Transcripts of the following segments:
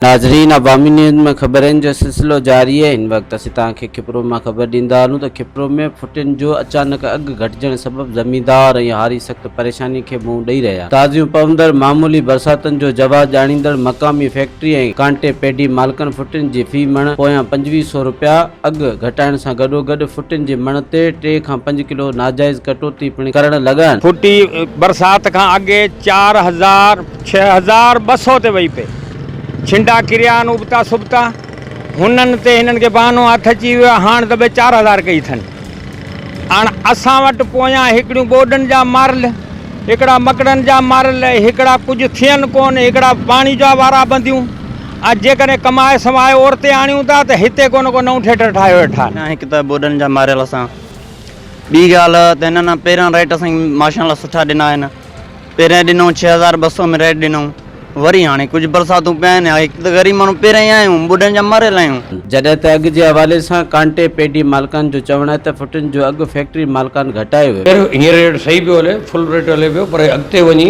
ناظرين عوامي نيوز ۾ خبرن جو سلسلو جاري آهي هن وقت اسين توهان کي کپرو مان خبر ڏيندا هلون ته کپرو ۾ ڦٽين جو اچانڪ اگهه گهٽجڻ سبب زميندار ۽ هاري سخت پريشاني کي منهن ڏئي رهيا آهن تازيون پوندڙ معمولي برساتن جو جواز ڄاڻيندڙ مقامي فيڪٽري ۽ ڪانٽي پيڊي مالڪن ڦٽين جي في مڻ پويان پنجويهه سئو رپيا اگهه گهٽائڻ سان گڏوگڏ ڦٽين جي مڻ تي ٽي کان پنج ڪلو ناجائز ڪٽوتي پڻ ڪرڻ لڳا. ڦٽي برسات کان اڳي چار هزار ڇهه هزار ٻه سؤ تي وئي پئي. ڇنڊا ڪريا آهن ابتا سبتا. هنن تي هنن کي بهانو هٿ اچي ويو آهي هاڻ ته ٻه چار هزار ڪئي اٿن. هاڻ اسان وٽ پويان هڪڙيون ٻوڏن جا مارل، هڪڙا مڪڙن جا مارل، هڪڙا ڪجهه ٿين ڪونه، هڪڙا پاڻي جا وارا ٻنديون. اڄ جيڪڏهن ڪمائي سمائي اورتي آڻيون ٿا ته هتي ڪو نه ڪو نئون ٿيٽر ٺاهيو ويٺا آهن. هڪ ته ٻوڏن جا ماريل اسان ٻي ڳالهه ته هنن پهريان ريٽ اسان کي ماشاء الله سٺا ڏنا آهن پهريان ڏنو ڇهه هزار ٻه سؤ ۾ ريٽ ڏنائون وري هاڻي ڪجهه برساتون پيا آهن هڪ ته غريب ماڻهو پهريان ئي آهيون ٻوڏن جا ماريل آهيون. جڏهن ته اگهه جي حوالي سان ڪانٽي پيڊي مالڪان جو چوڻ آهي ته فٽن جو اگهه فيڪٽري مالڪان گهٽايو ويو. خير هينئر ريٽ صحيح پيو هلي فل ريٽ هلي پيو پر اڳتي وڃي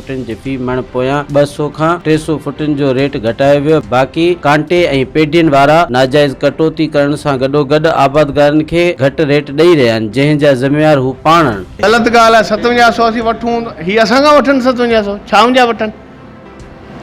فٽن جي في مڻ پويان ٻه سؤ کان ٽي سؤ فٽن جو ريٽ گهٽايو ويو، باقي ڪانٽي ۽ پيڊين وارا ناجائز ڪٽوتي ڪرڻ سان گڏوگڏ آبادگارن کي گهٽ ريٽ ڏئي رهيا آهن، جنهن جا ذميوار هو پاڻ آهن. غلط ڳالهه آهي ستونجاهه سؤ اسين وٺون هي اسان کان وٺن ستونجاهه سؤ ڇا منهنجا وٺن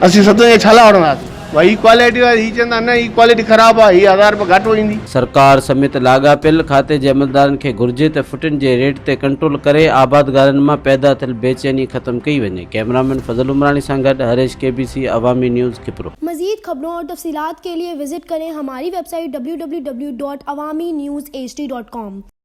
اسين ستونجاهه ڇا لاء وٺنداسين. وائي هي ڪوالٽي واري هي چوندا نه هي ڪوالٽي خراب آ هي هزار روپيا گهٽ ويندي. سرڪار سميت لاڳاپيل کاتي جي عملدارن کي گهرجي ته ڦٽن جي ريٽ تي ڪنٽرول ڪري آبادگارن مان پيدا ٿيل بي چيني ختم ڪئي وڃي. ڪئمرامين فضل عمراڻي سان گڏ Harish K B C Awami news Khipro. مزيد خبرون اور تفصيلات کے لئے وزٽ کریں ہماری ویب سائٹ www.awaminews hd.com.